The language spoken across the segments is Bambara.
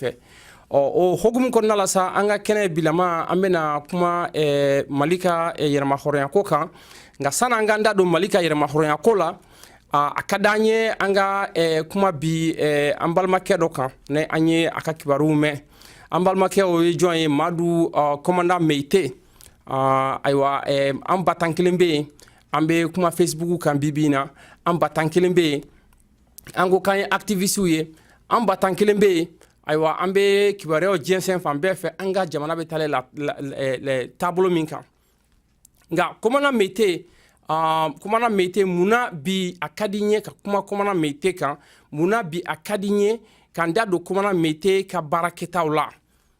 fɛ ɔ o hukumu kɔnɔna la sa an ka kɛnɛ bilama an bɛna kuma eh, mali ka eh, yɛrɛmahɔrɔnyako kan nka san'an k'an da don mali ka yɛrɛmahɔrɔnyako la a ka d'an ye an ka eh, kuma bi eh, an balimakɛ dɔ kan ne an ye a ka kibaruw mɛn an balimakɛ o ye jɔn ye madu kɔmanda ah, meyite ah, ayiwa eh, an ba tan kelen bɛ yen an bɛ kuma facebook kan bibi in na an ba tan kelen bɛ yen an ko k'an ye aktivisiw ye an ba tan kelen bɛ yen ayiwa an bɛ kibaruyaw jɛnsɛn fan bɛɛ fɛ an ka jamana bɛ taa la taabolo min kan nka kɔmana mete uh, kɔmana mete mun na bi a ka di n ye ka kuma kɔmana mete kan mun na bi a ka di n ye ka n da don kɔmana mete ka baara kɛtaw la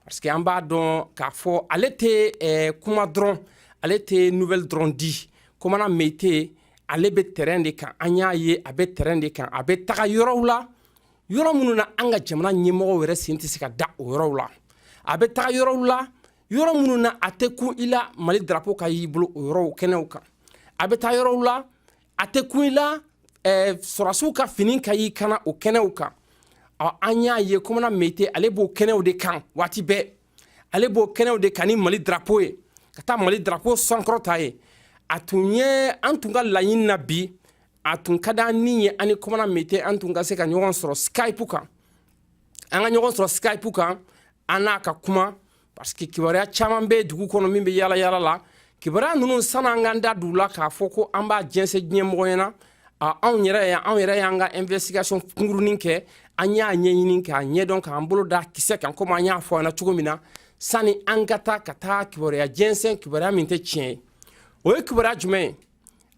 parce que an b'a dɔn k'a fɔ ale tɛ eh, kuma dɔrɔn ale tɛ nouvelle dɔrɔn di kɔmana mete ale bɛ terrain de kan an y'a ye a bɛ terrain de kan a bɛ taga yɔrɔw la yɔrɔ minnu na an ka jamana ɲɛmɔgɔw yɛrɛ sen tɛ se ka da o yɔrɔw la a bɛ taga yɔrɔw la yɔrɔ minnu na a tɛ kun i la mali darapo ka y'i bolo o yɔrɔw kɛnɛw kan a bɛ taa yɔrɔw la a tɛ kun i la eh, sɔrɔsiw ka fini ka y'i kan na o kɛnɛw kan ɔ an y'a ye kɔmana mete ale b'o kɛnɛw de kan waati bɛɛ ale b'o kɛnɛw de kan ni mali darapo ye ka taa mali darapo sankɔrɔta yen a tun ye an tun ka laɲini na bi a tun ka d'an ni ye an ni kɔmana mete an tun ka se ka ɲɔgɔn sɔrɔ skype kan an ka ɲɔgɔn sɔrɔ skype kan an n'a ka kuma parce que kibaruya caman bɛ dugu kɔnɔ min bɛ yala yala la kibaruya ninnu sani an k'an da don u la k'a fɔ ko an b'a jɛnsɛn diɲɛ mɔgɔ ɲɛna anw yɛrɛ y'an anw yɛrɛ y'an ka investigation kunkurunin kɛ an y'a ɲɛɲini k'a ɲɛdɔn k'an bolo da kisɛ kan komi an y'a fɔ an na cogo min na sani an ka taa ka taa kibaruya jɛnsɛn kibaruya min tɛ tiɲɛ ye o ye kibaruya jumɛn ye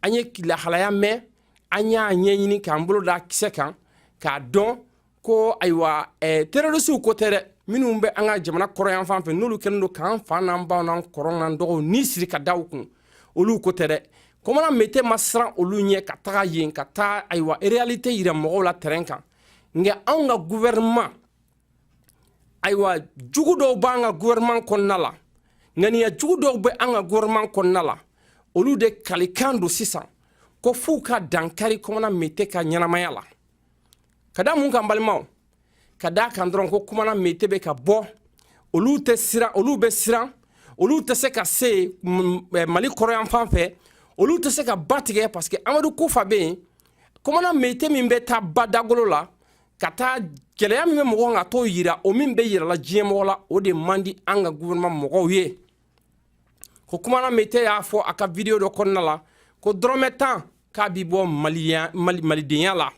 an ye lahalaya mɛn an y'a ɲɛɲini k'an bolo da kisɛ kan k'a dɔn ko ayiwa eh, terrorisiw ko tɛ dɛ minnu bɛ an ka jamana kɔrɔn yanfan fɛ n'olu kɛlen don k'an fa n'an baw n'an kɔrɔ n'an dɔgɔw ni siri ka da u kun olu ko tɛ dɛ kɔmana mete ma siran olu ɲɛ ka taga yen ka taa ayiwa réalité yira mɔgɔw la terrain kan nka anw ka gouvernement ayiwa jugu dɔw b'an ka gouvernement kɔnɔna la ŋaniya jugu dɔw bɛ an ka gouvernement kɔnɔna la olu de kalikan don sisan ko f'u ka dankari kɔmana mete ka ɲɛnamaya la ka da mun kan balimaw ka da kan dɔrɔn ko komana mete bɛ ka bɔ olu tɛ siran olu bɛ siran olu tɛ se ka se eh, mali kɔrɔnyanfan fɛ olu tɛ se ka ba tigɛ parce que amadu kufa bɛ yen komana mete min bɛ taa ba dagolo la ka taa gɛlɛya min bɛ mɔgɔ kan ka t'o yira o min bɛ yirala diɲɛ mɔgɔ la o de man di an ka gouvernement mɔgɔw ye ko komana mete y'a fɔ a ka video dɔ kɔnɔna la ko dɔrɔmɛ tan k'a b'i bɔ maliya mali malidenya la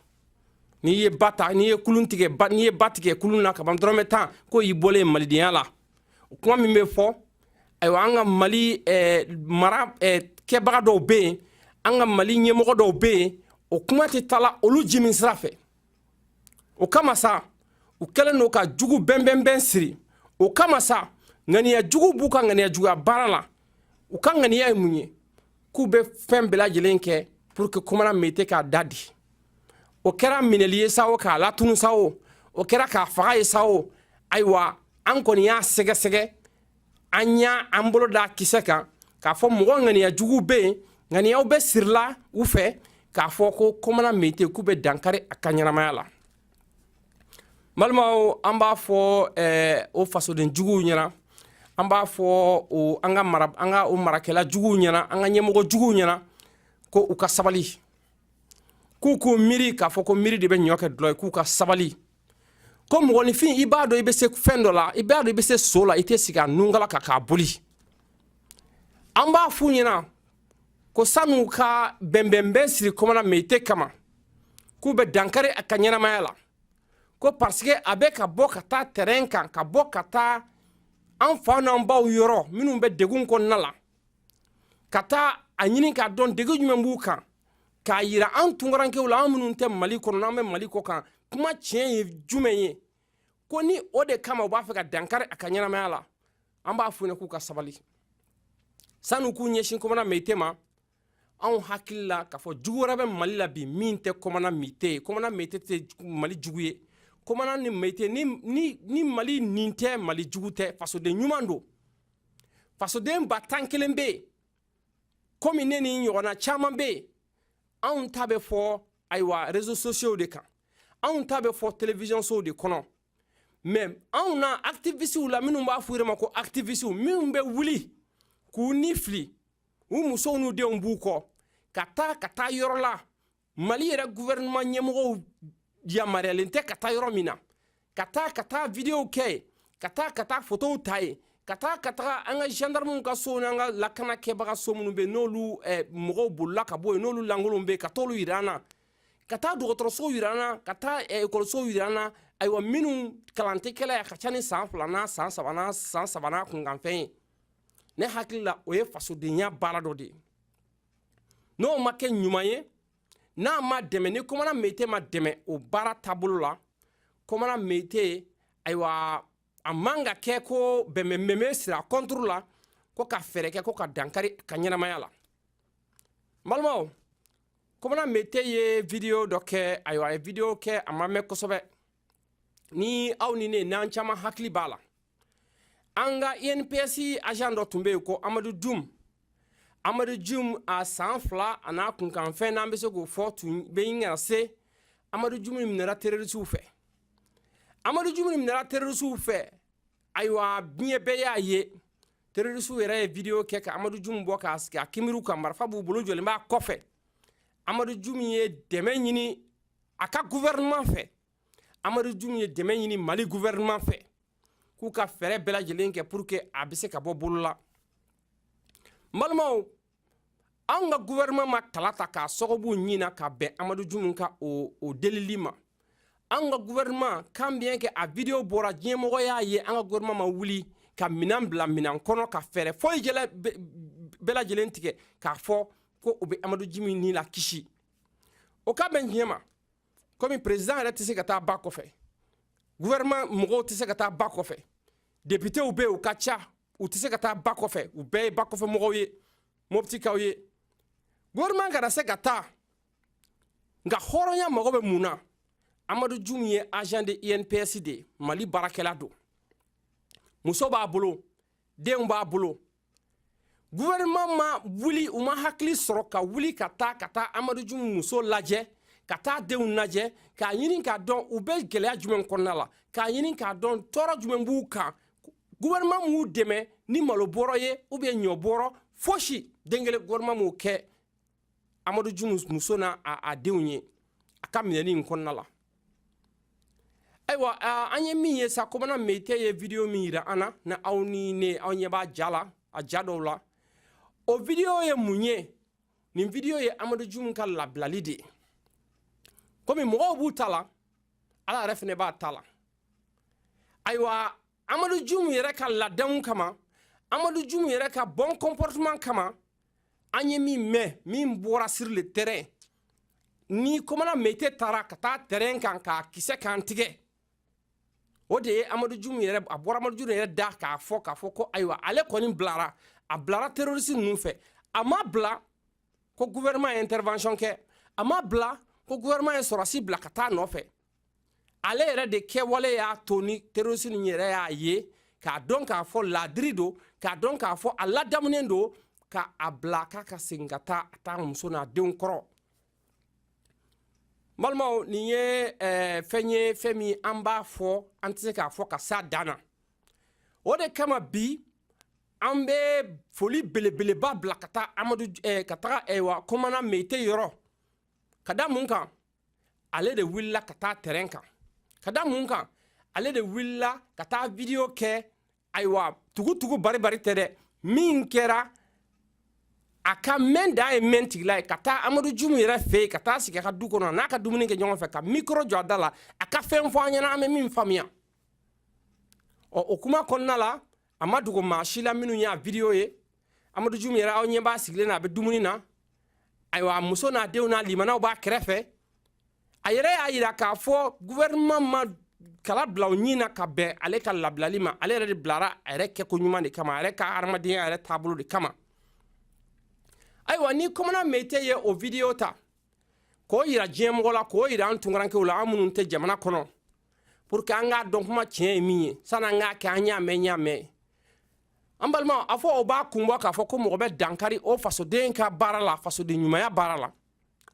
n'i ye ba ta n'i ye kulun tigɛ ba n'i ye ba tigɛ kulun na kaban dɔrɔmɛ tan ko i bɔlen malidenya la o kuma min bɛ fɔ ayiwa an ka mali eh, mara eh, kɛbaga dɔw bɛ yen an ka mali ɲɛmɔgɔ dɔw bɛ yen o kuma tɛ taala olu jimin sira fɛ o kama sa u kɛlen don ka jugu bɛnbɛnbɛn siri o kama sa ŋaniya jugu b'u ka ŋaniya juguya baara la u ka ŋaniya ye mun ye k'u bɛ fɛn bɛɛ lajɛlen kɛ pour que komana mete k'a da de o kɛra minɛli ye sa o k'a latunu sa o o kɛra k'a faga ye sa o ayiwa an kɔni y'a sɛgɛsɛgɛ an y'an bolo da kisɛ kan k'a fɔ mɔgɔ ŋaniya juguw bɛ yen ŋaniyaw bɛ sirila u fɛ k'a fɔ ko komana mete k'u bɛ dankari a ka ɲɛnamaya la balimaw an b'a fɔ eh, o fasoden juguw ɲɛna an b'a fɔ o an ka mara an ka o marakɛla juguw ɲɛna an ka ɲɛmɔgɔ juguw ɲɛna ko u ka sabali k'u k'u miiri k'a fɔ ko miiri de bɛ ɲɔ kɛ dulɔ ye k'u ka sabali ko mɔgɔninfin i b'a dɔn i bɛ se fɛn dɔ la i b'a dɔn i bɛ se so la i tɛ sigi a nunkala kan k'a boli an b'a f'u ɲɛna ko san'u ka bɛnbɛnbɛn siri kɔmana meyite kama k'u bɛ dankari a ka ɲɛnamaya la ko parce que a bɛ ka bɔ ka taa terrain kan ka bɔ ka taa an fa n'an baw yɔrɔ minnu bɛ degun kɔnɔna la ka taa a ɲini k'a dɔn degun jumɛn b'u kan k'a yira an tunkarankew la an minnu tɛ mali kɔnɔ an bɛ mali kɔkan kuma tiɲɛ ye jumɛn ye ko ni o de kama u b'a fɛ ka dankari a ka ɲɛnamaya la an b'a f'u ɲɛna k'u ka sabali san'u k'u ɲɛsin kɔmana meyite ma anw hakili la k'a fɔ jugu wɛrɛ bɛ mali la bi min tɛ kɔmana meyite ye kɔmana meyite tɛ mali jugu ye kɔmana ni meyite ni, ni, ni mali nin tɛ mali jugu tɛ fasoden ɲuman don fasoden ba tan kelen bɛ yen komi ne ni ɲɔgɔnna caman bɛ yen anw ta bɛ fɔ ayiwa rezo sosiyow de kan anw ta bɛ fɔ televiziyɔn sow de kɔnɔ mɛ anw na akitivistiw la minnu b'a fɔ u yɛrɛ ma ko akitivistiw minnu bɛ wuli k'u ni fili u musow n'u denw b'u kɔ ka taa ka taa yɔrɔ la mali yɛrɛ guvɛrɛnɛma ɲɛmɔgɔw yamaruyalen tɛ ka taa yɔrɔ min na ka taa ka taa vidiyow kɛ yen ka taa ka taa fotow ta yen ka taa ka taga an ka gendarmew ka sow n'an ka lakana kɛbaga so minnu bɛ n'olu eh, mɔgɔw bolila ka bɔ yen n'olu lankolonw bɛ ka t'olu yira an na ka taa dɔgɔtɔrɔsow jira an na ka taa eh, ekɔlisow jira an na ayiwa minnu kalan tɛ kɛ la a ka ca ni san filanan san sabanan san saba n'a kunkanfɛn ye ne hakili la o ye fasodenya baara dɔ de ye n'o ma kɛ ɲuman ye n'a ma dɛmɛ ni kɔmana mete ma dɛmɛ o baara taabolo la kɔmana mete ayiwa a man ka kɛ ko bɛnbɛnbɛnbɛn sira kɔnturu la ko ka fɛɛrɛ kɛ ko ka dankari a ka ɲɛnamaya la n balimaw kɔmana mete ye video dɔ kɛ ayiwa a ye video kɛ a ma mɛn kosɛbɛ ni aw ni ne n'an caman hakili b'a la an ka inps agent dɔ tun bɛ yen ko amadu jum amadu jum a san fila a n'a kunkanfɛn n'an bɛ se k'o fɔ tun bɛ ɲini ka na se amadu jum minɛra terorisiw fɛ amadu jum minɛra terorisiw fɛ ayiwa diɲɛ bɛɛ y'a ye terorisiw yɛrɛ ye video kɛ ka amadu jum bɔ k'a sigi a kunbiriw kan marifa b'u bolo jɔlen b'a kɔfɛ amadu jum ye dɛmɛ ɲini a ka gouvernement fɛ amadu jum ye dɛmɛ ɲini mali gouvernement fɛ k'u ka fɛɛrɛ bɛɛ lajɛlen kɛ pour que a bɛ se ka bɔ bolo la n balimaw an ka gouvernement ma kala ta k'a sɔgɔ u ɲin na ka bɛn amadu jumu ka o o delili ma an ka gouvernement quand bien que a video bɔra diɲɛmɔgɔ y'a ye an ka gouvernement ma wuli ka minan bila minan kɔnɔ ka fɛɛrɛ foyi bɛɛ lajɛlen tigɛ k'a fɔ ko u bɛ amadu jumu ni lakisi o ka bɛn diɲɛ ma komi président yɛrɛ tɛ se ka taa ba kɔfɛ gouvernement mɔgɔw tɛ se ka taa ba kɔfɛ députés bɛ yen u ka ca u tɛ se ka taa ba kɔfɛ u bɛɛ ye ba kɔfɛ mɔgɔw ye moptikaw ye gouvernement kana se ka taa nka hɔrɔnya mago bɛ mun na amadu jum ye agent de inps de ye mali baarakɛla don muso b'a bolo denw b'a bolo gouvernement ma wuli u ma hakili sɔrɔ ka wuli ka taa ka taa amadu jum muso lajɛ ka taa denw lajɛ k'a ɲini k'a dɔn u bɛ gɛlɛya jumɛn kɔnɔna la k'a ɲini k'a dɔn tɔɔrɔ jumɛn b'u kan gouvernement m'u dɛmɛ ni malo bɔrɔ ye ou bien ɲɔ bɔrɔ fosi den kelen gouvernement m'o kɛ amadu jumu muso n'a denw ye a ka minɛni in kɔnɔna la ayiwa an ye min ye sa komana meyite ye video min yira an na na aw ni ne aw ɲɛ b'a ja la a ja dɔw la o video ye mun ye nin video ye amadu jumu ka labilali de ye komi mɔgɔw b'u ta la ala yɛrɛ fɛnɛ b'a ta la ayiwa amadu jumu yɛrɛ ka ladamu kama amadu jumu yɛrɛ ka bon comportement kama an ye min mɛn min bɔra sur le terrain ni komana meyite taara ka taa terrain kan k'a kisɛ kan tigɛ o de ye amadu jumu yɛrɛ a bɔra amadu jumu yɛrɛ da k'a fɔ k'a fɔ ko ayiwa ale kɔni bilara a bilara terroriste ninnu fɛ a ma bila ko gouvernement ye intervention kɛ a ma bila ko gouvernement ye sɔrɔsi bila ka taa nɔfɛ ale yɛrɛ de kɛwale y'a to ni terroriste ninnu yɛrɛ y'a ye k'a dɔn k'a fɔ ladiri don k'a dɔn k'a fɔ a ladamunen don k'a bila k'a ka segin ka taa a taa muso n'a denw kɔrɔ balimaw nin ye eh, fɛn ye fɛn min an b'a fɔ an tɛ se k'a fɔ ka s'a dan na o de kama bi an bɛ foli belebeleba bila ka taa amadu eh, ka taga eh, wa kɔmana meyite yɔrɔ ka da mun kan ale de wulila ka taa terrain kan ka da mun kan ale de wulila ka taa video kɛ ayiwa tugutugu baribari tɛ dɛ min kɛra a ka mɛn da ye mɛn tigila ye ka taa amadu jumu yɛrɛ fɛ yen ka taa sigi a ka du kɔnɔ n'a ka dumuni kɛ ɲɔgɔn fɛ ka micro jɔ a da la a ka fɛn fɔ an ɲɛna an bɛ min faamuya ɔ o kuma kɔnɔna la a ma dogo maa si la minnu y'a video ye amadu jum yɛrɛ aw ɲɛ b'a sigilen na a bɛ dumuni na ayiwa a muso n'a denw n'a limanaw b'a kɛrɛfɛ a yɛrɛ y'a yira k'a fɔ gouvernement ma kala bila o ɲin na ka bɛn ale ka labilali ma ale yɛrɛ de bilara a yɛrɛ kɛko ɲuman de kama a yɛrɛ ka hadamadenya yɛrɛ taabolo de kama ayiwa ni kɔmana meyite ye o video ta k'o yira diɲɛmɔgɔ la k'o yira an tunkarankew la an minnu tɛ jamana kɔnɔ pour que an k'a dɔn kuma tiɲɛ ye min ye sani an k'a kɛ an y'a mɛn y'a mɛn an balima a fɔ o b'a kun bɔ k'a fɔ ko mɔgɔ bɛ dankari o fasoden ka baara la fasoden ɲumanya baara la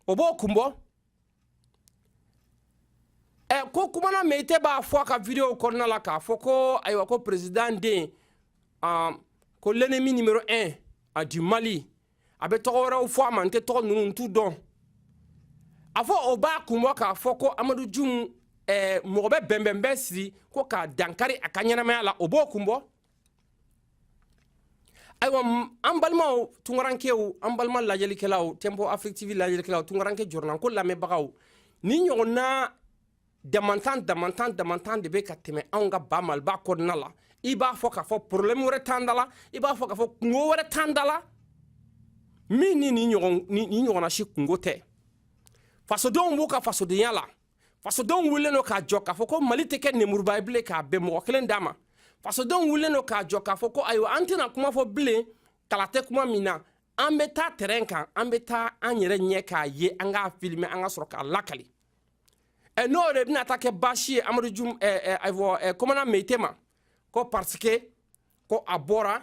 o b'o kun bɔ ɛ ko komana meyite b'a fɔ a ka videow kɔnɔna la k'a fɔ ko ayiwa ko président den ko l'ennemi numéro 1 du mali a bɛ tɔgɔ wɛrɛw fɔ a ma n tɛ tɔgɔ ninnu n t'u dɔn a fɔ o b'a kun bɔ k'a fɔ ko amadu jum eh, mɔgɔ bɛ bɛnbɛn bɛɛ siri ko k'a dankari a ka ɲɛnamaya la o b'o kun bɔ ayiwa an balimaw tunkarankew an balima lajɛlikɛlaw tempo afrique tv lajɛlikɛlaw tunkaranke jɔrɔnanko lamɛnbagaw nin ɲɔgɔnna damantan damantan damantan de bɛ ka tɛmɛ anw ka ba maliba kɔnɔna la i b'a fɔ k'a fɔ problème wɛrɛ t'an da la i b'a fɔ k'a fɔ kunko wɛrɛ t'an da la min ni nin ɲɔgɔn ni nin ɲɔgɔnna si kunko tɛ fasodenw b'u ka fasodenya la fasodenw wulilen don k'a jɔ k'a fɔ ko mali tɛ kɛ nemuruba ye bilen k'a bɛn mɔgɔ kelen da ma fasodenw wulilen don k'a jɔ k'a fɔ ko ayiwa an tɛna kuma fɔ bilen kala tɛ kuma min na an bɛ taa terrain kan an bɛ taa an yɛrɛ ɲɛ k'a ye an k'a filmer an ka sɔrɔ k'a lakali ɛ n'o de bɛna taa kɛ baasi ye amadu jum ɛ ɛ ɛ kɔmana meyite ma ko parce que ko a bɔra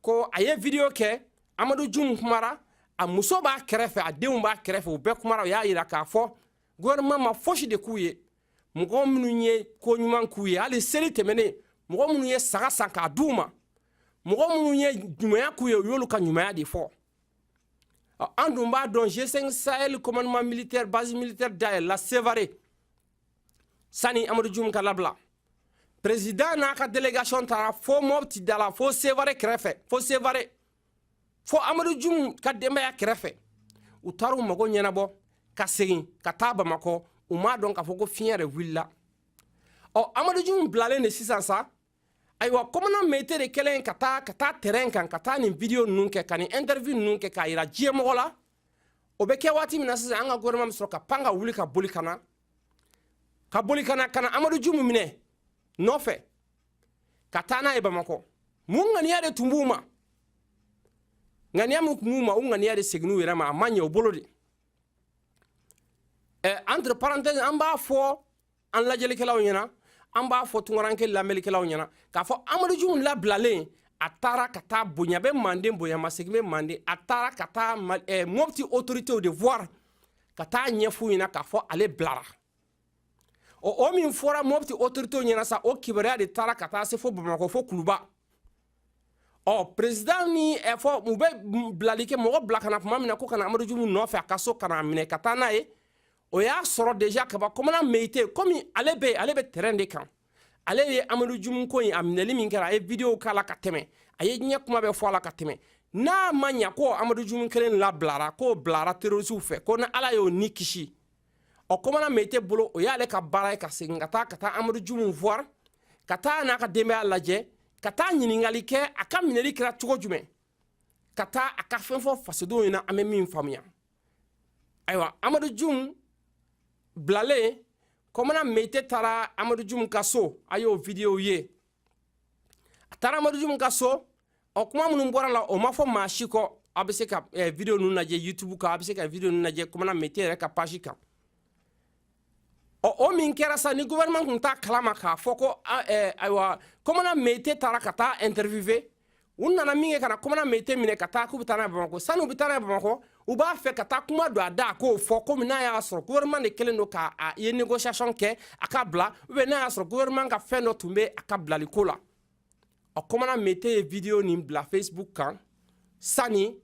ko a ye video kɛ amadu jum kumara a muso b'a kɛrɛfɛ a denw b'a kɛrɛfɛ u bɛɛ kumara u y'a yira k'a fɔ gouvernement ma fosi de k'u ye mɔgɔ minnu ye ko ɲuman k'u ye hali seli tɛmɛnen mɔgɔ minnu ye saga san k'a d'u ma mɔgɔ minnu ye ɲumanya k'u ye u y'olu ka ɲumanya de fɔ an dun b'a dɔn g5 sahel commandement militaire base militaire dayɛlɛla sevare sani amadu jum ka labila prezidan n'a ka délégation taara fo mɔpti da la fo sevare kɛrɛfɛ fo sevare fo amadu jum ka denbaya kɛrɛfɛ u taara u mago ɲɛnabɔ ka segin ka taa bamakɔ u m'a dɔn k'a fɔ ko fiɲɛ yɛrɛ wulila ɔ amadu jum bilalen de sisan sa ayiwa kɔmana meyite de kɛlen ka taa ka taa terrain kan ka taa nin vidiyo ninnu kɛ ka nin interview ninnu kɛ k'a yira diɲɛmɔgɔ la o bɛ kɛ waati min na sisan an ka gouvernement bɛ sɔrɔ ka pan ka wuli ka boli ka na ka boli ka na ka na amadu jumu minɛ nɔfɛ ka taa n'a ye bamakɔ mun ŋaniya de tun b'u ma ŋaniya min tun b'u ma o ŋaniya de seginn'u yɛrɛ ma a ma ɲɛ u bolo de eh, entre parenthèse an b'a fɔ an lajɛlikɛlaw ɲɛna an b'a fɔ tunkaranke lamɛnlikɛlaw ɲɛna k'a fɔ amadu jumu labilalen a taara ka taa bonya bɛ manden bonyamasegin bɛ manden a taara ka taa eh, mɔpti autoritew de voir ka taa ɲɛf'u ɲɛna k'a fɔ ale bilara o o min fɔra mɔpti autoritew ɲɛna sa o kibaruya de taara ka taa se fo bamakɔ fo kuluba ɔ prezidan ni eh, fɔ u bɛ bilali kɛ mɔgɔ bila ka na tuma min na ko ka na amadu jumu nɔfɛ a ka so ka n'a minɛ ka taa n'a ye o y'a sɔrɔ deja kaba kɔmana meyite komi ale bɛ ale bɛ terrain de kan ale ye amadu jumu ko in a minɛli min kɛra a ye video k'a la ka tɛmɛ a ye diɲɛ kuma bɛɛ fɔ a la ka tɛmɛ n'a mɛnna ko amadu jumu kelen labilara k'o bilara terorisiw fɛ ko ni ala y'o ni kisi ɔ kɔmana meyite bolo o y'ale ka baara ye ka segin ka taa ka taa amadu jumu voir ka taa n'a ka denbaya lajɛ ka taa ɲininkali kɛ a ka minɛli kɛra cogo jumɛn ka taa a ka fɛn fɔ fasodenw ɲɛna an bɛ min faamuya ayiwa amadu jum bilalen kɔmana meyite taara amadu jum ka so a y'o vidiyow ye a taara amadu jum ka so ɔ kuma minnu bɔra la o ma fɔ maa si kɔ a bɛ se ka eh, video ninnu lajɛ youtube kan a bɛ se ka video ninnu lajɛ kɔmana meyite yɛrɛ ka page kan ɔ o min kɛra sa ni gouvernement tun t'a kalama k'a fɔ ko eh, ayiwa kɔmana meyite taara ka taa interviewer u nana min kɛ ka na kɔmana meyite minɛ ka taa k'u bɛ taa n'a ye bamakɔ sani u bɛ taa n'a ye bamakɔ u b'a fɛ ka taa kuma don a da a k'o fɔ komi n'a y'a sɔrɔ gouvernement de kɛlen don k'a ye négociation kɛ a ka bila ou bien n'a y'a sɔrɔ gouvernement ka fɛn dɔ tun bɛ a ka bilali ko la ɔ kɔmana meyite ye video nin bila facebook kan sani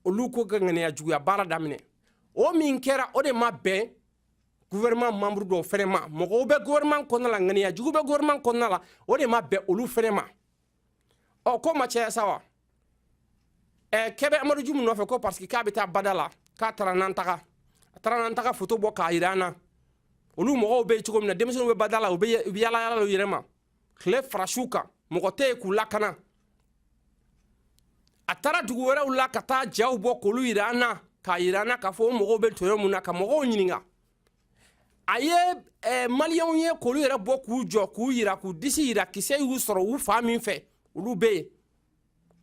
olu ko ka ŋaniya juguya baara daminɛ o min kɛra o de ma bɛn gouvernement membre dɔw fɛnɛ ma mɔgɔw bɛ gouvernement kɔnɔna la ŋaniya jugu bɛ gouvernement kɔnɔna la o de ma bɛn olu fɛnɛ ma ɔ ko ma caya sa wa ɛ k'u bɛ amadu jumu nɔfɛ ko parce que k'a bɛ taa bada la k'a taara nantaga a taara nantaga foto bɔ k'a yira an na olu mɔgɔw bɛ cogo min na denmisɛnninw bɛ bada la u bɛ yala yala u yɛrɛ ma tile fara su kan mɔgɔ tɛ yen k'u lakana a taara dugu wɛrɛw la ka taa jaw bɔ k'olu yira an na k'a yira an na k'a fɔ o mɔgɔw bɛ tɔɔrɔ mun na ka mɔgɔw ɲininka a ye eh, maliyɛnw ye k'olu yɛrɛ bɔ k'u jɔ k'u yira k'u disi yira kisɛ y'u sɔrɔ u fan min fɛ olu bɛ yen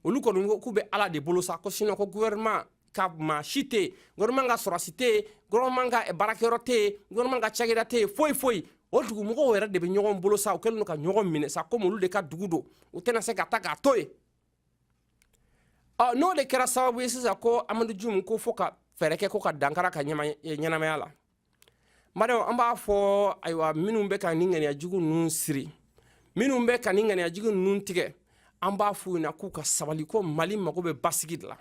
olu kɔni ko k'u bɛ ala de bolo sa ko sinon ko gouvernement ka maa si tɛ yen gouvernement ka sɔrɔsi tɛ yen gouvernement ka eh, baarakɛyɔrɔ tɛ yen gouvernement ka cakɛda tɛ yen foyi foyi o dugumɔgɔw yɛrɛ de bɛ ɲɔgɔn bolo sa u kɛlen don ka ɲɔgɔn minɛ sa komi olu de ka dugu don u tɛna se ka taa k'a to yen ɔ n'o de kɛra sababu ye sisan ko amadu jum ko fo ka fɛɛrɛ kɛ ko ka dankari a ka ɲɛnamaya la madame an b'a fɔ ayiwa minnu bɛ ka nin ŋaniya jugu ninnu siri minnu bɛ ka nin ŋaniya jugu ninnu tigɛ an b'a f'u ɲɛ na k'u ka sabali ko mali mago bɛ basigi de la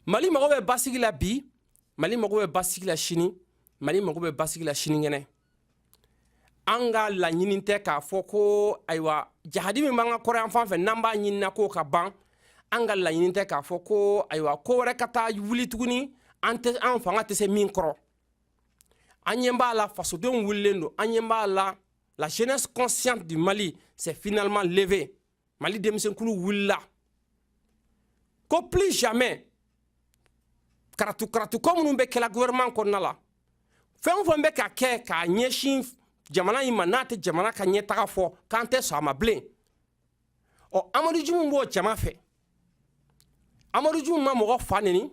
mali mago bɛ basigi la bi mali mago bɛ basigi la sini mali mago bɛ basigi la sinikɛnɛ an ka laɲini tɛ k'a fɔ ko ayiwa jahadi min b'an ka kɔrɔyan fan fɛ n'an b'a ɲinina k'o ka ban an ka laɲini tɛ k'a fɔ ko ayiwa ko wɛrɛ ka taa wuli tuguni an tɛ an fanga tɛ se min kɔrɔ an ɲɛ b'a la fasodenw wulilen don an ɲɛ b'a la la jeunesse consciente du mali s'est finalement levée mali denmisɛnkulu wulila ko plus jamais karatu karatu ko minnu bɛ kɛla gouvernement kɔnɔna la fɛn o fɛn bɛ ka kɛ k'a ɲɛsin jamana in ma n'a tɛ jamana ka ɲɛtaga fɔ k'an tɛ sɔn a ma bilen ɔ amadu jumu b'o jama fɛ amadu jumu ma mɔgɔ fa neni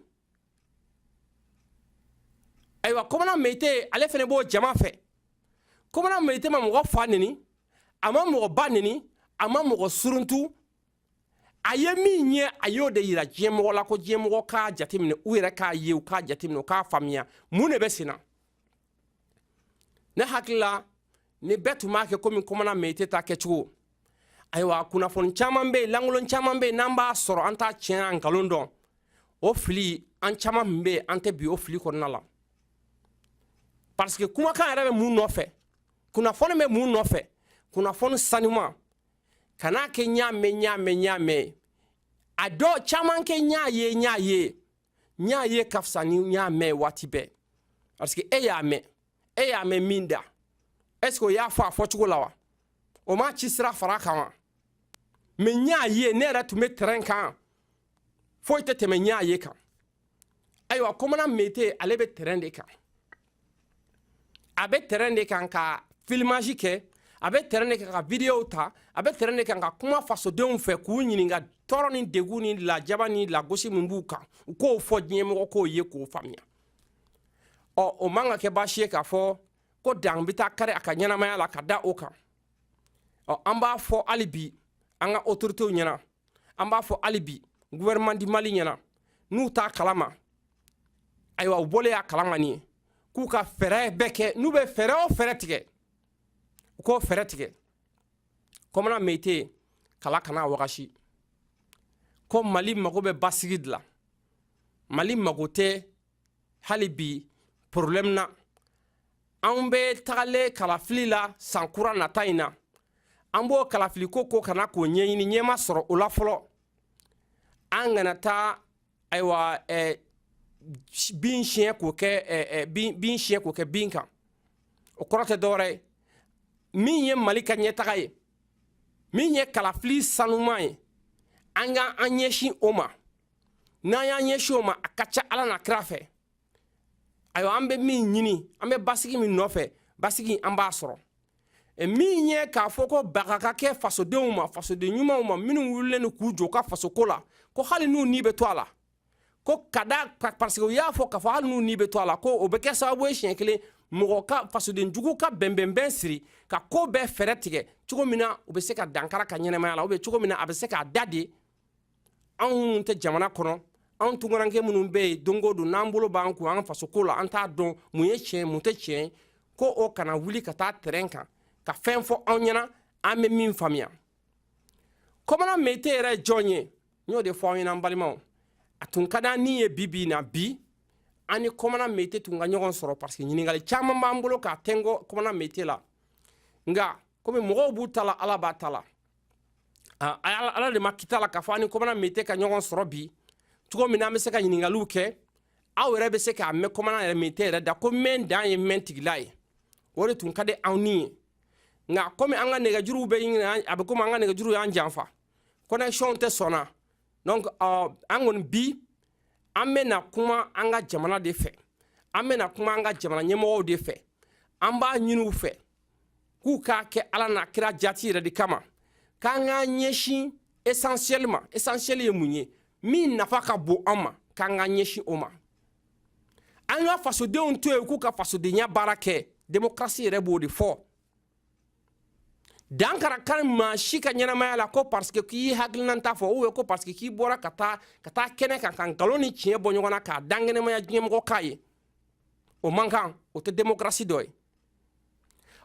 ayiwa komana meyite ale fɛnɛ b'o jama fɛ komana meyite ma mɔgɔ fa neni a ma mɔgɔ ba neni a ma mɔgɔ suruntu a ye min ye a y'o de yira diɲɛmɔgɔ la ko diɲɛmɔgɔ k'a jateminɛ u yɛrɛ k'a ye u k'a jateminɛ u k'a faamuya mun de bɛ sen na ne hakili la ni bɛɛ tun b'a kɛ komi komana meyite ta kɛcogo ayiwa kunnafoni caman bɛ yen lankolon caman bɛ yen n'an b'a sɔrɔ an t'a tiɲɛ n'a nkalon dɔn o fili an caman min bɛ yen an tɛ bin o fili kɔnɔna la parce que kumakan yɛrɛ bɛ mun nɔfɛ kunnafoni bɛ mun nɔfɛ kunnafoni sanuman kan'a kɛ ɲ'a mɛn ɲ'a mɛn ɲ'a mɛn a dɔw caman kɛ ɲ'a ye ɲ'a ye n y'a ye ka fisa ni n y'a mɛn waati bɛɛ parce que e y'a mɛn e y'a mɛn min da est ce que o y'a fɔ a fɔcogo la wa o m'a ci sira fara kan wa mais n y'a ye ne yɛrɛ tun bɛ tɛrɛn kan foyi tɛ tɛmɛ n y'a ye kan ayiwa komana mete ale bɛ tɛrɛn de kan a bɛ tɛrɛn de kan ka filmage kɛ a bɛ tɛrɛn de kan ka videow ta a bɛ tɛrɛn de kan ka kuma fasodenw fɛ k'u ɲininka tɔɔrɔ ni degun ni lajaba ni lagosi min b'u kan u k'o fɔ diɲɛmɔgɔ k'o ye k'o faamuya ɔ o man ka kɛ baasi ye k'a fɔ ko dan bɛ taa kari a ka ɲɛnamaya la ka da o kan ɔ an b'a fɔ hali bi an ka otoritew ɲɛna an b'a fɔ hali bi gouvernement du mali ɲɛna n'u t'a kalama ayiwa u bɔlen y'a kalama nin ye k'u ka fɛɛrɛ bɛɛ kɛ n'u bɛ fɛɛrɛ o fɛɛrɛ tigɛ u k'o fɛɛrɛ tigɛ kɔmana meyite kala kana wagasi ko mali mago bɛ basigi de la mali mago tɛ hali bi porobilɛmu na an bɛ tagalen kalafili la san kura nata in na an b'o kalafili ko ko kana k'o ɲɛɲini ɲɛma sɔrɔ o la fɔlɔ an kana taa ayiwa eh, bin siɲɛ k'o kɛ eh, eh, bin bin siɲɛ k'o kɛ bin kan o kɔrɔ tɛ dɔwɛrɛ ye min ye mali ka ɲɛtaga ye min ye kalafili sanuman ye an ka an ɲɛsin o ma n'an y'an ɲɛsin o ma a ka ca ala n'a kira fɛ ayiwa an bɛ min ɲini an bɛ basigi min nɔfɛ basigi an b'a sɔrɔ e min ye k'a fɔ ko baga ka kɛ fasodenw ma fasoden ɲumanw ma minnu wulilen don k'u jɔ ka fasoko la ko hali n'u ni bɛ to a la ko ka da parce que u y'a fɔ k'a fɔ hali n'u ni bɛ to a la ko o bɛ kɛ sababu ye siɲɛ kelen mɔgɔ ka fasoden jugu ka bɛnbɛnbɛn siri ka ko bɛɛ fɛɛrɛ tigɛ cogo min na u bɛ se ka dankari a ka ɲɛnamaya la u bɛ cogo min na a bɛ se k'a da de anw minnu tɛ jamana kɔnɔ anw tunkaranke minnu bɛ yen don o don n'an bolo b'an kun an fasoko la an t'a dɔn mun ye tiɲɛ mun tɛ tiɲɛ ko o kana wuli ka taa tɛrɛn kan ka fɛn fɔ anw ɲɛna an bɛ min faamuya kɔmana mete yɛrɛ ye jɔn ye n y'o de fɔ anw ɲɛna an balimaw a tun ka d'an ni ye bi bi in na bi an ni kɔmana mete tun ka ɲɔgɔn sɔrɔ parce que ɲininkali caman b'an bolo k'a tɛnkɔ kɔmana mete la nka komi mɔgɔw b'u ta la ala b'a ta la ah, ala de ma kita la k'a fɔ an ni kɔmana mete ka ɲɔgɔn sɔrɔ bi cogo min na an bɛ se ka ɲininkaliw kɛ aw yɛrɛ bɛ se k'a mɛn kɔmana yɛrɛ mete yɛrɛ da ko mɛn dan ye mɛn tigila ye o de tun ka di anw ni ye nka komi an ka nɛgɛjuruw bɛ ɲinina a bɛ komi an ka nɛgɛjuruw y'an janfa connexion tɛ sɔnna donc uh, an kɔni bi an bɛna kuma an ka jamana de fɛ an bɛna kuma an ka jamana ɲɛmɔgɔw de fɛ an b'a ɲini u fɛ k'u k'a kɛ ala n'a kira jati yɛrɛ de kama k'an k'an ɲɛsin esansiyɛli ma esansiyɛli ye mun ye min nafa ka bon an ma k'an k'an ɲɛsin o ma an ka fasodenw to yen k'u ka fasodenya baara kɛ demokarasi yɛrɛ b'o de fɔ dan kara kan maa si ka ɲɛnamaya la ko parseke k'i hakilinanta fɔ ubiyɛn ko parseke k'i bɔra ka taa ka taa kɛnɛ kan ka nkalon ni tiɲɛ bɔ ɲɔgɔn na k'a dankɛnɛmaya diɲɛmɔgɔ k'a ye o man kan o tɛ demokarasi dɔ ye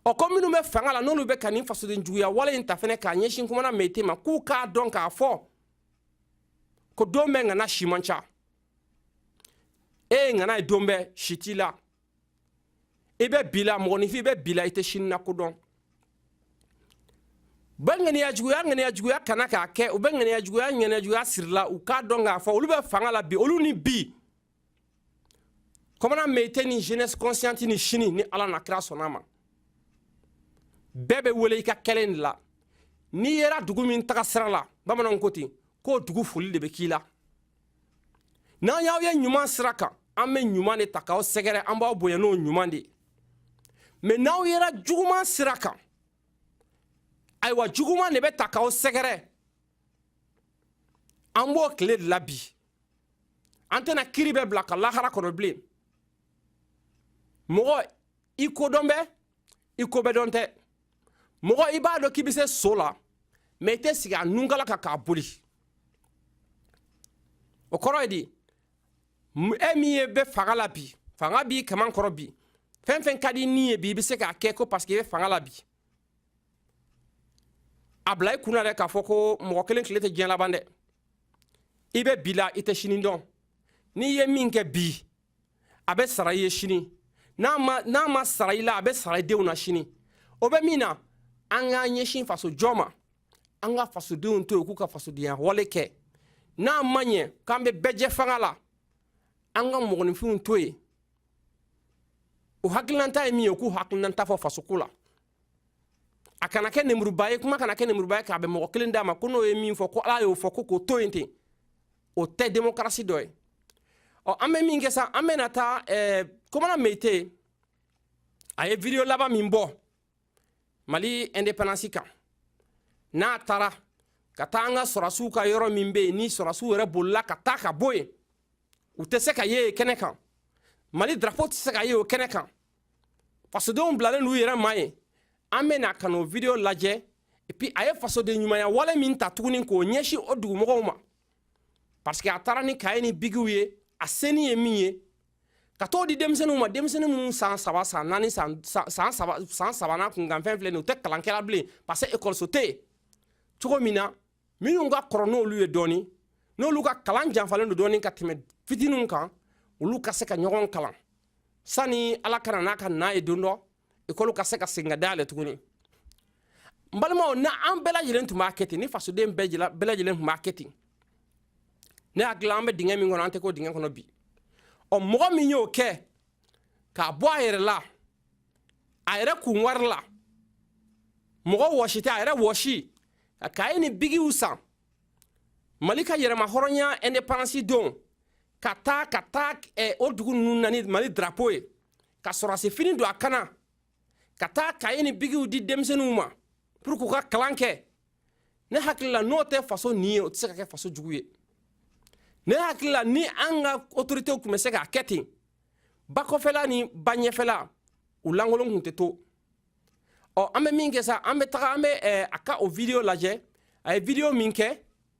o ko minnu bɛ fanga la n'olu bɛ ka nin fasoden juguya wale in ta fana k'a ɲɛsin komana meyite ma k'u k'a dɔn k'a fɔ ko don bɛɛ ŋana si man ca e ye ŋana ye don bɛɛ si t'i la i bɛ bi la mɔgɔninfin i bɛ bi la i tɛ sini la ko dɔn bɛ ŋaniya juguya ŋaniya juguya kana k'a kɛ u bɛ ŋaniya juguya ŋaniya juguya siri la u k'a dɔn k'a fɔ olu bɛ fanga la bi olu ni bi komana meyite ni jeunesse consciente ni sini ni ala n'a kira sɔnn'a ma bɛɛ bɛ wele i ka kɛlen de la n'i yera dugu min taga sira la bamananw ko ten k'o dugu foli de bɛ k'i la n'an y'aw ye ɲuman sira kan an bɛ ɲuman de ta k'aw sɛgɛrɛ an b'aw bonya n'o ɲuman de ye mɛ n'aw yera juguman sira kan ayiwa juguman de bɛ ta k'aw sɛgɛrɛ an b'o tile de la bi an tɛna kiri bɛɛ bila ka lahara kɔnɔ bilen mɔgɔ i kodɔn bɛ i ko bɛɛ dɔn tɛ mɔgɔ i b'a dɔn k'i bɛ se so la mɛ i tɛ sigi a nunkala kan k'a boli o kɔrɔ ye di e min ye bɛ fanga la bi fanga b'i kaman kɔrɔ bi fɛn fɛn ka d'i ni ye bi i bɛ se k'a kɛ ko paseke i bɛ fanga la bi a bila i kunna dɛ k'a fɔ ko mɔgɔ kelen tile tɛ diɲɛ laban dɛ i bɛ bi la i tɛ sini dɔn n'i ye min kɛ bi a bɛ sara i ye sini n'a ma sara i la a bɛ sara i denw na sini o bɛ min na an k'an ɲɛsin faso jɔ ma an ka fasodenw to yen k'u ka fasodenya wale kɛ n'a ma ɲɛ k'an bɛ bɛɛjɛfanga la an ka mɔgɔninfinw to yen u hakilinanta ye min ye k'u hakilinanta fɔ fasoko la a kana kɛ nemuruba ye kuma kana kɛ nemuruba ye k'a bɛn mɔgɔ kelen da ma ko n'o ye min fɔ ko ala y'o fɔ ko k'o to yen ten o tɛ demokarasi dɔ ye ɔ an bɛ min kɛ sa an bɛna taa eh, komana meyite a ye video laban min bɔ mali indépendance kan n'a taara ka taa an ka sɔrɔsiw ka yɔrɔ min bɛ yen ni sɔrɔsiw yɛrɛ bolila ka taa ka bɔ yen u tɛ se ka ye yen kɛnɛ kan mali drapo tɛ se ka ye o kɛnɛ kan fasodenw bilalen n'u yɛrɛ ma yen an bɛ na ka n'o video lajɛ epi a ye fasoden ɲumanya wale min ta tuguni k'o ɲɛsin o dugumɔgɔw ma parce que a taara ni kaye ni bigiw ye a seni ye min ye ka t'o di denmisɛnninw ma denmisɛnnin minnu san saba san naani san san saba san sabanan kunkanfɛn filɛ nin u tɛ kalan kɛla bilen parce que ekɔliso tɛ yen cogo min na minnu ka kɔrɔ n'olu ye dɔɔni n'olu ka kalan janfalen don dɔɔni ka tɛmɛ fitininw kan olu ka se ka ɲɔgɔn kalan sani ala ka na n'a kana ye don dɔ ekɔli ka se ka segin ka dayɛlɛ tuguni n balimaw n'an bɛɛ lajɛlen tun b'a kɛ ten ni fasoden bɛɛ lajɛlen tun b'a kɛ ten ne hakili la an bɛ dingɛ min kɔnɔ an tɛ k'o dingɛ kɔnɔ bi ɔ mɔgɔ min y'o kɛ k'a bɔ a yɛrɛ la a yɛrɛ kun wari la mɔgɔ wɔsi tɛ a yɛrɛ wɔsi ka kaye ni bigiw san mali ka yɛrɛma hɔrɔnya independance don ka taa ka taa eh, o dugu ninnu na ni mali drapo ye ka sɔrɔdasi fini don a kan na ka taa kaye ni bigiw di denmisɛnninw ma pour k'u ka kalan kɛ ne hakili la n'o tɛ faso ɲin ye o tɛ se ka kɛ faso jugu ye ne hakili la ni an ka otoritew tun bɛ se k'a kɛ ten ba kɔfɛla ni ba ɲɛfɛla u lankolon tun tɛ to ɔ an bɛ min kɛ sa an bɛ taga an bɛ a ka o video lajɛ a ye video min kɛ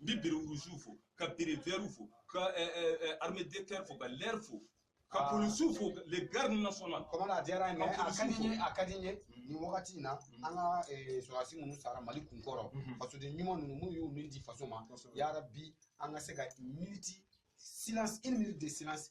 n bɛ bere wurusiw fo ka bere vɛriw fo ka arme de terre fo ka l'air fo ka ah. polisiw fo le garde national kɔmana a diyara n ye a ka di n ye a ka di n ye mm-hmm. nin wagati in na mm-hmm. an ka eh, sɔrɔdasi minnu sara mali kunkɔrɔ mm-hmm. fasoden ɲuman ninnu minnu y'u ni di faso ma yarabi an ka se ka miniti silence une minute de silence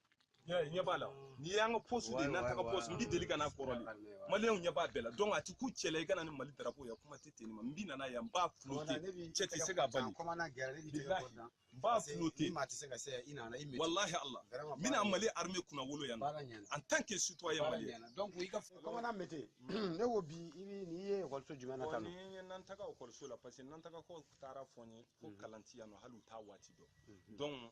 ɲɛ b'a la nin y'an ka posi de nantaga posi n b'i deli ka n'a kɔrɔlen maliyɛnw ɲɛ b'a bɛɛ la donc a ti ku cɛ la i ka na ni mali darapo ye kuma tɛ ten ma n bi na n'a ye n b'a flotter cɛ tɛ se ka bali n b'a flotter walahi ala n bɛna mali arme kunnawolo yan en tant que citoyen malien kɔmana mete ne ko bi i bi nin ye ekɔliso jumɛn na tan nin ye nantaga ekɔliso la parce que nantaga ko taara fɔ n ye ko kalan tɛ yan nɔ hali u t'a waati dɔn donc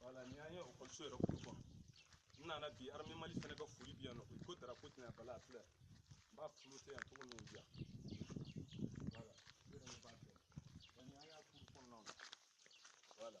voilà ni an ye ekɔliso yɛrɛ kuru kɔnɔ n nana bi arme mali fana ka foli bi yan nɔ ko darapo tɛna bala a filɛ n b'a flotter yan cogo min bi yan voilà yɛrɛ b'a kɛ ni an y'a kuru kɔnɔna na voilà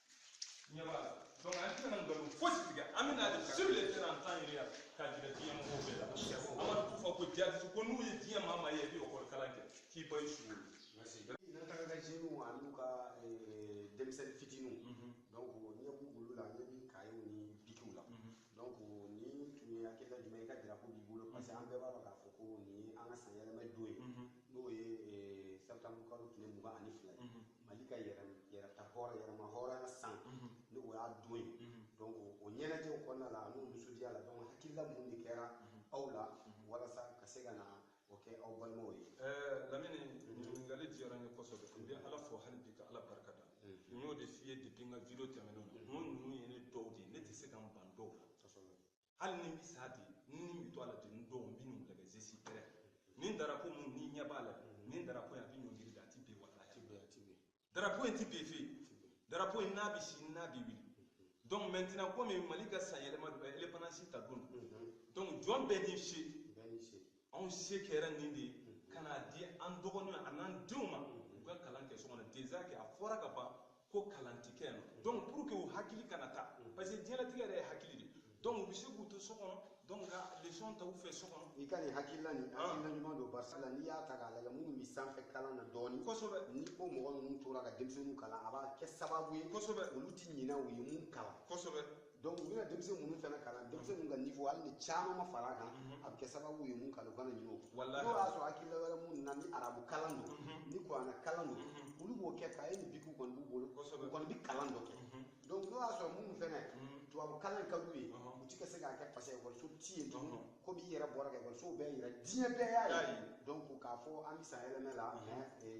ɲɛ b'a la donc an tɛna nkalon fosi tigɛ an bɛ na de sur le terrain an t'an yɛrɛ yan k'a jira diɲɛ mɔgɔw bɛɛ la amadu kufa ko jaabi ko n'u ye diɲɛ maa maa ye bi ekɔli kalan kɛ k'i ba i sugo nantaga ka jeunes ani n'u ka denmisɛnnin fitininw donc ɲɛ b'u bolo la ɲɛ b'i kayew ni bikiw la donc nin tun ye hakilila jumɛn i ka drapo b'i bolo parce que an bɛɛ b'a dɔn k'a fɔ ko nin ye an ka san yɛlɛma don ye n'o ye septembre kalo tile mugan ani fila ye mali ka yɛrɛta hɔrɔn yɛrɛma hɔrɔnya san mhm. ni o y'a don ye mhm. donc o ɲɛnajɛw kɔnɔna la an'o nisɔndiya la donc hakilila mun de kɛra mhm. aw la walasa ka se ka na o kɛ aw balimaw ye eh, lamini ɲininkali diyara n ye kosɛbɛ n bɛ ala fo hali bi ka ala barika da n y'o de f'i ye depuis n ka video tɛmɛnenw na n ko ninnu ye ne dɔw de ye ne tɛ se ka n ban dɔw la hali ni n bɛ sa ten ni n bɛ to a la de n dɔw n bɛ n'u lagɛ je suis prêt ni darapo mun ni ɲɛ b'a la ni darapo in a bɛ ɲɔngiri de a tɛ bin walahi a tɛ bin a tɛ bin darapo in tɛ bin fe darapo in n'a bɛ si n'a bɛ wuli donc maintenant komi mali ka sanyɛlɛma don indépendance ta don donc jɔn bɛɛ n'i se bɛɛ n'i se anw se kɛra nin de ye ka n'a di an dɔgɔninw an'an denw ma u ka kalan kɛ so kɔnɔ déjà que a fɔra ka ban ko kalan ti kɛ yan donc pour que u hakili kana taa parce que diɲɛlatigɛ yɛrɛ ye hakili de donc u bɛ se k'u to so kɔnɔ donc ka leçon ta u fɛ so kɔnɔ. i ka nin hakilina ɲuman don barisa la n'i y'a ta k'a lajɛ minnu bɛ sanfɛ kalan na dɔɔni kosɛbɛ ni o mɔgɔ ninnu tora ka denmisɛnninw kalan a b'a kɛ sababu ye kosɛbɛ olu ti ɲinɛ u ye mun kalan kosɛbɛ. donc u bɛna denmisɛn minnu fana kalan denmisɛnninw ka niveau hali ni caman ma fara a kan a bɛ kɛ sababu ye mun kalan u kana ɲinɛ o kɔ n'o y'a sɔrɔ hakilila wɛrɛ minnu na ni arabu kalan don ni kuranɛ kalan don olu b'o kɛ kaye ni bikiw kɔni b'u bolo u kɔni bɛ kalan dɔ kɛ donc n'o y'a sɔrɔ minnu fana tubabu kalan ka d'u ye u ti ka se k'a kɛ parce que ekɔliso ti yen tuguni komi i yɛrɛ bɔra ka ekɔlisow bɛɛ yira diɲɛ bɛɛ y'a ye donc k'a fɔ an bɛ san yɛlɛmɛ la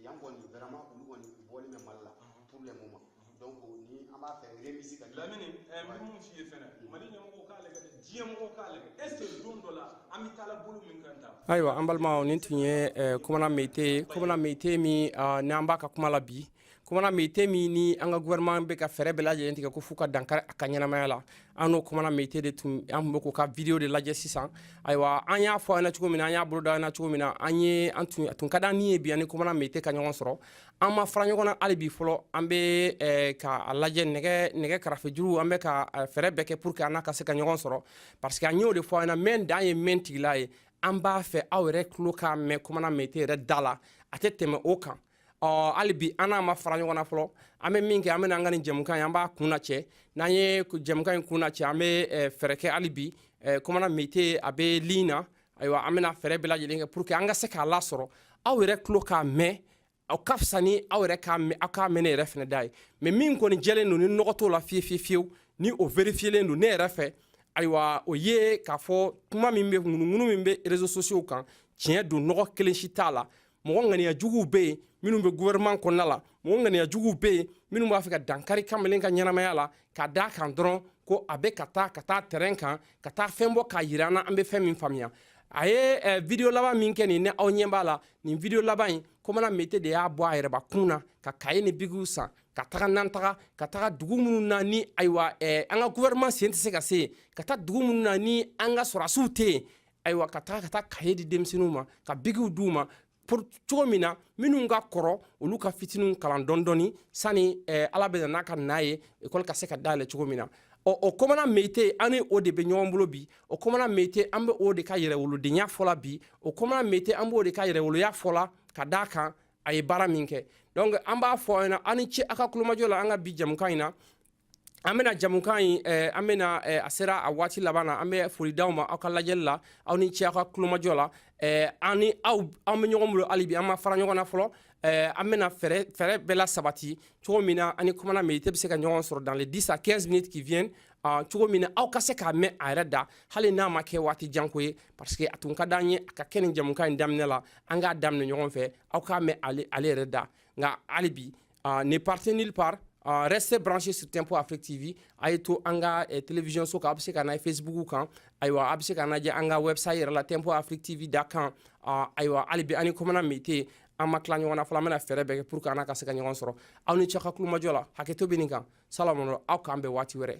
yan kɔni vraiment olu kɔni u bɔlen bɛ mali la pour le moment donc ni an b'a fɛ remisi ka lamini ɛ n bɛ mun f'i ye fɛnɛ mali ɲɛmɔgɔw k'a lajɛ dɛ diɲɛ mɔgɔw k'a lajɛ est ce que don dɔ la an bɛ taala bolo min kan tan ayiwa an balimaw nin tun ye eh, komana meyite ye komana meyite min ah, ni an b'a ka kuma la bi komana meyite min ni an ka gouvernement bɛ ka fɛɛrɛ bɛɛ lajɛlen tigɛ ko f'u ka dankari a ka ɲɛnamaya la an n'o komana meyite de tun an tun bɛ k'o ka video de lajɛ sisan ayiwa an y'a fɔ aw ɲɛna cogo min na an y'a boloda an na cogo min na an ye an tun a tun ka di an ni ye bi an ni komana meyite ka ɲɔgɔn sɔrɔ an ma fara ɲɔgɔn na hali bi fɔlɔ an bɛ eh, k'a lajɛ nɛgɛ nɛgɛ karafejuru an bɛ ka eh, fɛɛrɛ bɛɛ kɛ pour que an n'a ka se ka ɲɔgɔn sɔrɔ parce que an y'o de fɔ aw ɲɛna mɛn dan ye mɛn tigi la ye an b'a fɛ aw yɛrɛ tulo k'a mɛn komana meyite yɛrɛ da la a tɛ tɛmɛ o kan ɔ hali bi an n'a ma fara ɲɔgɔn na fɔlɔ an bɛ min kɛ an bɛna an ka nin jɛmukan ye an b'a kunnacɛ n'an ye jɛmukan in kunnacɛ an bɛ eh, fɛɛrɛ kɛ hali bi komana meyite a bɛ ligne na ayiwa an bɛna fɛɛrɛ bɛɛ lajɛlen kɛ pour que an ka se k'a lasɔrɔ aw yɛrɛ tulo k'a mɛn o ka fisa ni aw yɛrɛ aw k'a mɛn ne yɛrɛ fɛnɛ da ye mais min kɔni jɛlen don ni nɔgɔ t'o la fiye fiye fiyewu ni o verifiyelen don ne yɛrɛ fɛ ayiwa o ye k'a fɔ kuma min bɛ ŋunuŋunu min bɛ réseaux sociaux kan tiɲɛ don nɔgɔ kelen si t'a la mɔgɔ ŋaniya juguw be yen minnu be gouvernement kɔnɔna la mɔgɔ ŋaniya juguw be yen minnu b'a fɛ ka dankari kamalen ka ɲɛnamaya la ka d'a kan dɔrɔn ko a be ka taa ka taa terrain kan ka taa fɛn bɔ k'a yira an na an be fɛn min faamuya a ye eh, video laban min kɛ nin ne aw ɲɛ b'a la nin video laban in komana meyite de y'a bɔ a yɛrɛba kun na ka kaye ni bigiw san ka taga n'an taga ka taga dugu minnu na ni ayiwa eh, an ka gouvernement sen tɛ se ka se yen ka taa dugu minnu na ni an ka sɔrɔdasiw tɛ yen ayiwa ka taa ka taa kaye di denmisɛnninw ma ka bigiw d'u ma cogo min na minnu ka kɔrɔ olu ka fitininw kalan dɔndɔni sani eh, ala bɛ n'a ka n'a ye ekɔli ka se ka dayɛlɛ cogo min na ɔ o kɔmana meyite an ni o de bɛ ɲɔgɔn bolo bi o kɔmana meyite an bɛ o de ka yɛrɛwolodenya fɔla bi o kɔmana meyite an b'o de ka yɛrɛwoloya fɔla ka d'a kan a ye baara min kɛ donc an b'a fɔ aw ɲɛna aw ni ce aw ka kulomajɔ la an ka bi jamukan in na an bena jamukan in eh, an bena eh, a sera a waati laban na an be foli d'aw ma aw ka lajɛli la aw ni ce aw ka kulomajɔ la eh, an ni aw an be ɲɔgɔn bolo hali bi an ma fara ɲɔgɔn na fɔlɔ eh, an bena fɛɛrɛ fɛɛrɛ bɛɛ lasabati cogo min na an ni komana meyite be se ka ɲɔgɔn sɔrɔ dans les 10 à 15 minutes qui viennent uh, cogo min na aw ka se k'a mɛn a yɛrɛ da hali n'a ma kɛ waati jan ko ye parce que a tun ka d'an ye a ka kɛ nin jamukan in daminɛ la an k'a daminɛ ɲɔgɔn fɛ aw k'a mɛn ale, ale yɛrɛ da nka hali bi ah, ne partez nulle part ah, restez branchés sur Tempo Afrique TV a ye to an ka eh, télévision so kan a bɛ se ka na Facebook kan ayiwa a bɛ se k'an lajɛ an ka website yɛrɛ la Tempo Afrique TV dot com ah, ayiwa hali bi an ni kɔmana meyite an ma tila ɲɔgɔn na fɔlɔ an bɛna fɛɛrɛ bɛɛ kɛ pour que an n'a ka se ka ɲɔgɔn sɔrɔ aw ni ce aw ka kulomajɔ la hakɛto bɛ nin kan salamu aw k'an bɛn waati wɛrɛ